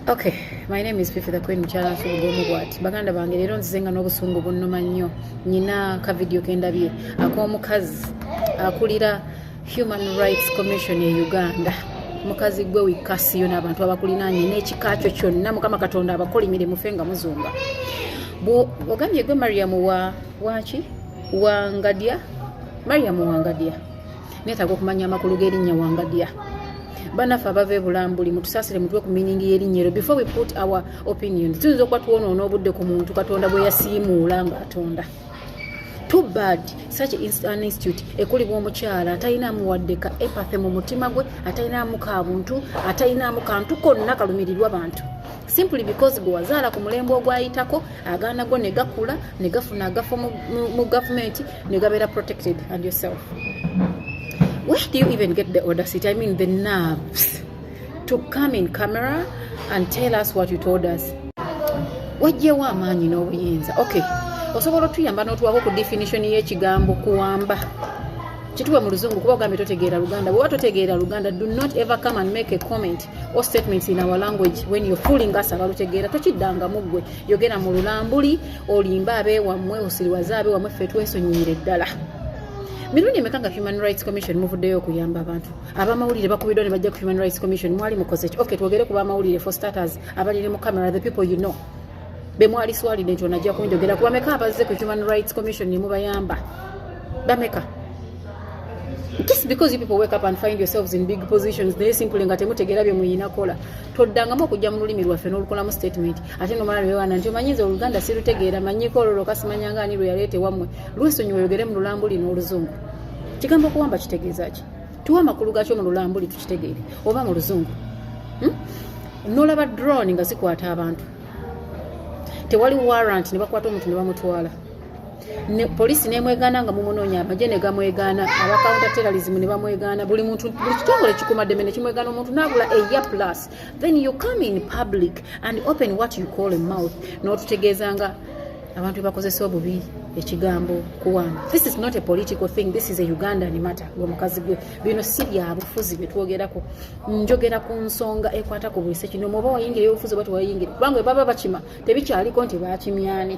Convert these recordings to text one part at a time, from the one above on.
Okay, my name is Fifi the Queen Mchala Fugomu Gwati. Baganda bange lero nzizenga n'obusungu bunnuma nnyo. Nyina ka video kendabye ak'omukazi akulira Human Rights Commission e Uganda. Mukazi gwe wikasiyo n'abantu abakulinaanye n'ekika kyo kyonna Mukama Katonda abakolimire mufe nga muzunga. Ogambye gwe Mariam wa waki wangadya Mariam wangadya neetaaga okumanya amakulu g'erinnya wangadya banaffe abava ebulambuli mutusasire mutwe ku miningi y'erinnya ero before we put our opinion tuyinza okuba twonoona obudde ku muntu katonda bwe yasiimuula ng'atonda too bad such an institute ekulibwa omukyala atalinaamu wadde ka epathe mu mutima gwe atalinaamu ka buntu atalinaamu kantu konna kalumirirwa bantu simply because gwe wazaala ku mulembe ogwayitako agaana go ne gakula ne gafuna agafo mu gavumenti ne gabeera protected and yourself where do you even get the audacity i mean the nerves to come in camera and tell us what you told us wajjewo amaanyi n'obuyinza okay osobola otuyamba n'otuwako ku definition y'ekigambo kuwamba kituwe mu luzungu kuba ogambye totegeera luganda bweoba totegeera luganda do not ever come and make a comment or statements in our language when you're fooling us abalutegeera tokiddangamu ggwe yogera mu lulambuli olimba abeewammwe osiriwaze abeewammwe ffe twesonyiyire ddala mirundi emeka nga human rights commission muvuddeyo okuyamba abantu abamawulire bakubiddwa ne bajja ku human rights commission mwali mukoze ki ok twogere ku bamawulire for starters abaliri mu camera the people you know bemwali swalide nti onajja kunjogera kubameka abazze ku human rights commission nemubayamba bameka just because you people wake up and find yourselves in big positions naye simply nga temutegeera bye muyina kola toddangamu okujja mu lulimi lwaffe n'olukolamu statement ate nomala lwewana nti omanyiza oluganda sirutegeera manyiko olwo lwoka simanyanga ani lwe yaleete wammwe lwesonyi weyogere mu lulambu lino oluzungu kigambo okuwamba kitegeeza ki tuwa amakulu gakyo mu lulambu li tukitegeere oba mu luzungu hmm? nolaba drone nga zikwata abantu tewali warrant ne bakwata omuntu ne bamutwala ne poliisi nemwegaana nga mumunoonya amagye ne gamwegaana aba counter terrorism ne bamwegaana buli muntu buli kitongole kikumaddeme ne kimwegaana omuntu naagula eya plus then you come in public and open what you call a mouth n'otutegeeza nga abantu bebakozesa obubi ekigambo kuwano this is not a political thing this is a ugandan matter gwe mukazi gwe bino si byabufuzi byetwogerako njogera ku nsonga ekwata ku bwise kino mwoba wayingira eyobufuzi oba tewayingira kubanga baba bakima tebikyaliko nti bakimyani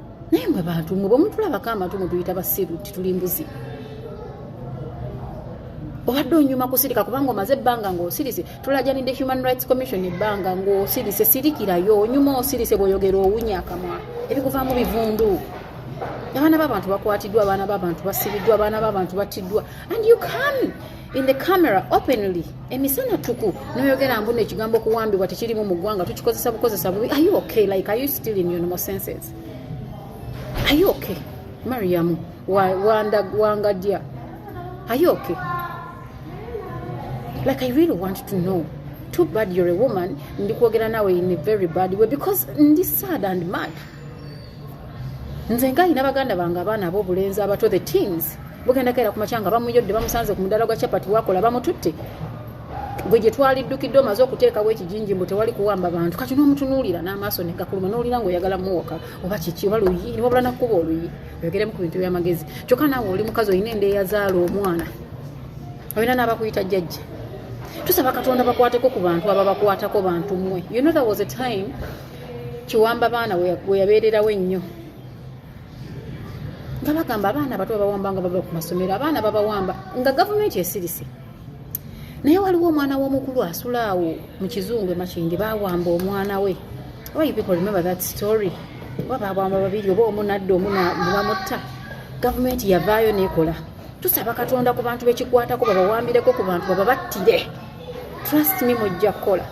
naye mwe bantu mwe bwemutulabako amatu mutuyita basiru nti tuli mbuzi obadde onyuma kusirika kubanga omaze ebbanga ngaosirise tulajanidde human rights commission ebbanga ngaosirise sirikirayo onyuma osirise bwoyogera owunya akamwa ebikuvaamu bivundu abaana babantu bakwatiddwa abaana babantu basibiddwa abaana babantu battiddwa and you come in the camera openly emisana tuku noyogera mbuno ekigambo kuwambibwa tekirimu mu ggwanga tukikozesa bukozesa bubi are you okay like are you still in unimal senses are you okay mariamu wangadya are you okay like i really want to know too bad you're a woman ndi kwogera nawe in a very bad way because ndi sad and mad nze nga alina baganda bange abaana abobulenzi abato the teens bugenda kaera kumakya nga bamuyodde bamusanze ku mudala gwa chapati wakola bamututte gwe gye twaliddukidde omaze okuteekawo ekijinji mbu tewali kuwamba bantu kati n'omutunuulira n'amaaso negakuluma n'olira nga oyagala muwoka oba kiki oba luyi niwabula nakkuba oluyi oyogeremu ku bintu byamagezi kyokka naawe oli mukazi olina endeeyazaala omwana olina n'abakuyita jjajja tusaba katonda bakwateko ku bantu ababakwatako bantu mwe you know there was a time kiwamba baana weyabeererawo ennyo nga bagamba abaana bato babawamba nga bava ku masomero abaana babawamba nga gavumenti esirise naye waliwo omwana w'omukulu asula awo mu kizungu emakindi bawamba omwana we why people remember that story oba babwamba babiri oba omu nadda omu nebamutta gavumenti yavaayo nekola tusaba katonda ku bantu bekikwatako babawambireko ku bantu bababattire trust me mujja kukola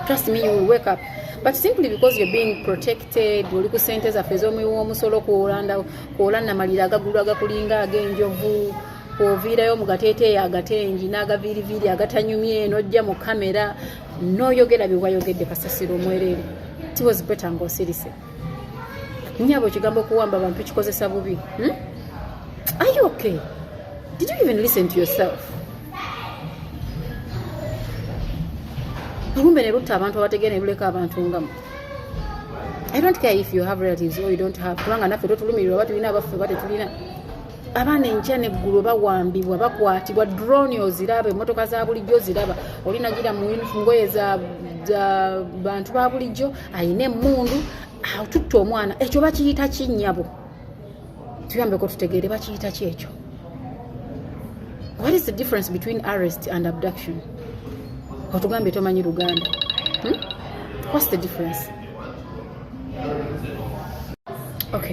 trust me you will wake up but simply because you're being protected oli ku sente zaffe ez'omuwi w'omusolo kwola namalira agagulu agakulinga ag'enjovu oviirayo mu gateeteeyo agatengi n'agaviiriviiri agatanyumye n'ojja mu kamera n'oyogera bye wayogedde kasasiro omwereere tiwozipeta ng'osirise nyabo ekigambo okuwamba abantu kikozesa bubi hmm? are you okay did you even listen to yourself olumbe ne lutta abantu abategeera ne luleka abantu ngamu i don't care if you have relatives or you don't have kubanga naffe totulumirirwa oba tulina abaffe oba tetulina abaana enkya neggulo bawambibwa bakwatibwa drone oziraba emotoka za bulijjo oziraba olinagira mu ngoye za bantu ba bulijjo ayina emundu atutte omwana ekyo bakiyita kinyabo tuyambeko tutegeere bakiyita ki ekyo what is the difference between arrest and abduction otugambye tomanyi luganda hmm? what's the difference okay